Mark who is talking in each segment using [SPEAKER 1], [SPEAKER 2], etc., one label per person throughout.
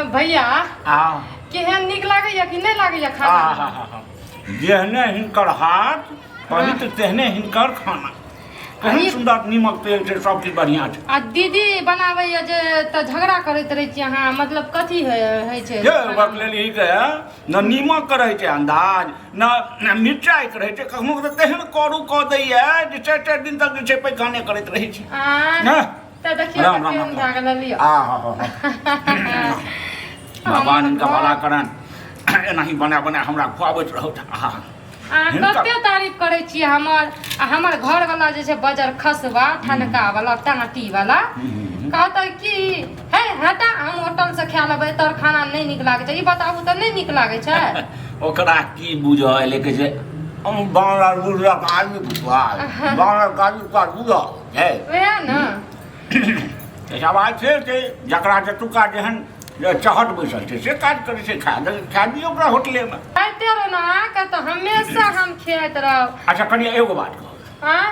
[SPEAKER 1] भैया आ केहन नीक लागैया कि नहि लागैया खाना आहाहा। जेहने हिनकर हाथ पवित्र तेहने हिनकर खाना केहन अरे- सुन्दर नीमक तेल छै सब चीज बढ़िया छै आ दीदी बनाबैया जे तऽ झगड़ा करैत रहै छी अहाँ मतलब कथी होइ होइ छै जे ओकर लेल ई के न नीमक के रहै छै अंदाज न न मिरचाइ के रहै छै कखनो के तऽ तेहन करू कऽ दैया जे चारि चारि दिन तक जे छै पैखाने करैत रहै छै आ ने राम राम राम आ हा हा भगवान इनका भला करन एनाही बना बना हमरा खुआबैत रहौ आहा अहाँ कते तारीफ करै छी हमर आ हमर घर वाला जे छै बजर खसवा ठनका वाला टाटी वाला कहते कि हे हटा हम होटल से खा लेबै तोर खाना नहि नीक लागै छै ई बताबू तऽ नहि नीक लागै छै ओकरा की बुझऽ एलै कहै छै हम बांग्ला बुझलक आदमी बुझल बांग्ला काजू काज बुझल छै वएह ने तऽ सवाल से छै जकरा जतुका जेहन जे चहट बैसल छै से काज करै छै खा दे खा दियौ ओकरा होटलेमे खाइते रहू ने अहाँके तऽ हमेशा हम खियाइत रहब अच्छा कनिया एगो बात कहू आँ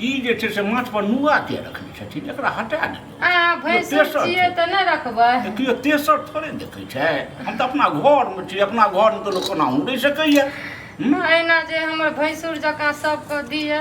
[SPEAKER 1] ई जे छै से माथ पर नुआ के रखने छथिन एकरा हटा दे अहाँ भैंस तेसर छै। छियै तऽ नहि रखबै केओ तेसर थोड़े देखै छै हम तऽ अपना घरमे छी अपना घरमे तऽ लोक कोना उड़ै सकैए हूँ? एहिना जे हमर भैंसुर जकाँ सबके दियै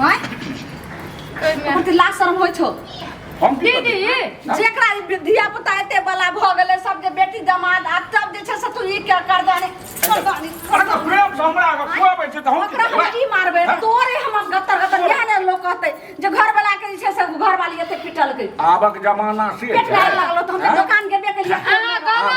[SPEAKER 1] हां ओकर के लाज शर्म होय छौ हम की करबै? दीदी जेकरा ई धिया पुता एते बला भऽ गेलै सब जे बेटी दमाद आ तब जे छै से तू ई के करदानी करदानी अरे तऽ प्रेम से हमरा अगर खुआबै छै तऽ हम की ओकरा हम करबै? की मारबै हाँ? तोरे हमर गत्तर गत्तर इएह ने लोक कहतै जे घर वाला के जे छै से घर वाली एते पिटलकै आबक जमाना से पेट छै लागल तऽ हम हाँ? दोकान गेबे केलिए अहाँ गाना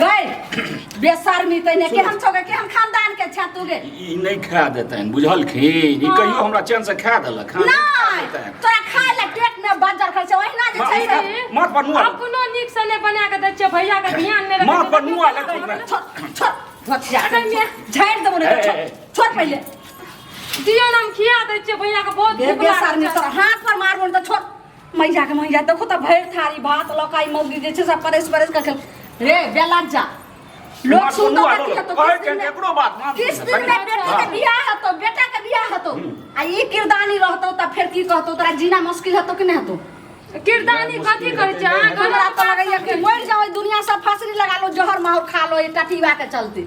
[SPEAKER 1] गै बेशर्मी तैने केहन छौ गे केहन खानदान के छा तू गे ई नहि खा देतनि बुझलखिन ई कहियो हमरा चैन से खा देलक हँ, नहि खा नहि देतनि। तोरा खाय ले पेट में बजर खाय छै ओहिना जे छै माँ- से माथ पर नुआ अपनो नीक से नहि बना के दै छियै भैया के ध्यान नहि रखै माँ छियै। पर नुआ लग ठीक बा। छोड़ छोड़ धोतिया अरे मैं- झाड़ देबो ने ए, छोड़ ए। छोड़ पहिले दियौ ने हम खिया दै छियै भैया के बहुत बे भूख लागल बेशर्मी छै। तोरा हाथ पर मारबो ने तऽ छोड़ मैया के मैया देखो तो भरि थारी भात लकाई मौगी जे छै सब परस परस के खेल रे बेला जा लोग सुन तो बात हेतो कहै छै एकरो बात मान किस दिन में बेटा के बियाह हेतो बेटा के बियाह हेतो आ ई किरदानी रहतो त फेर की कहतो तोरा जीना मुश्किल हेतो कि नहीं हेतो किरदानी कथी करै छै अहाँ हमरा तो लगैया कि मर जाओ दुनिया सब फांसी लगा लो जहर माहौर खा लो ई टटीवा के चलते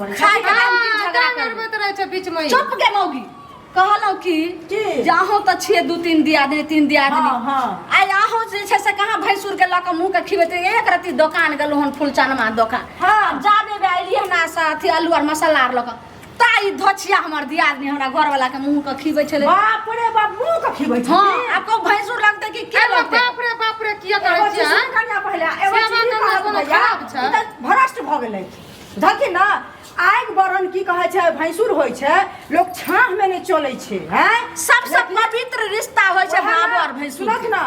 [SPEAKER 1] खाइ के काम की झगड़ा करबे करबैत रहै छै बीच में चुप के मौगी कहलहुँ कि की? जे अहूँ तऽ छियै दू तीन दियादनी तीन दियादनी हाँ, हाँ। आइ अहूँ जे छै से कहाँ भैंसुर के लऽ कऽ मुँह के खिबेत रही। एक रत्ती दोकान गेलहुँ हन फुलचनमा दोकान हाँ। जाबे बे अयली हमरा से अथी आलू आर मसाला आर लऽ कऽ ता ई धोछिया हमर दियादनी हमरा घरवाला के मुँह के खिबै छलै बाप रे बाप मुंह के खिबै छै हँ आब को भैंसुर लगतै कि के अरे लगतै बाप रे बाप रे किया एगो करै चीज छियै सुन कनिया पहिले एगो सेवा चीज करना कहब कोनो भैया, खराब छै? ई तऽ भ्रष्ट भऽ गेलै धके ना आगि बरन की कहै छै भैंसुर होइ छै लोक छाँह में नहि चलै छै हैं सबसे पवित्र रिश्ता होइ छै बाबा और भैंसुर सुनत ना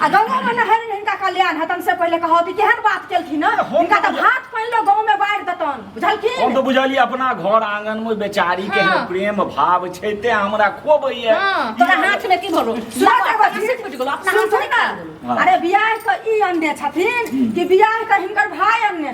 [SPEAKER 1] आ गंगा में नहर हिनका कल्याण हतन से पहिले कहत केहन बात केलखिन ना हम हिनका तऽ तऽ- भात पानि लो गाँव में बाढ़ि देतन हम बुझलखिन तो बुझलियै अपना घर आंगन में बेचारी के हाँ। प्रेम भाव छै ते हमरा खोबैये हाँ, तोरा हाथ में की भरो सुनत बाबा, एगो चीज? से फुटि गेलो, अपना सुन हाथ से ना। निकाल देलो। हाँ। अरे बियाह के ई अन्य छथिन कि बियाह के हिनकर भाय अन्य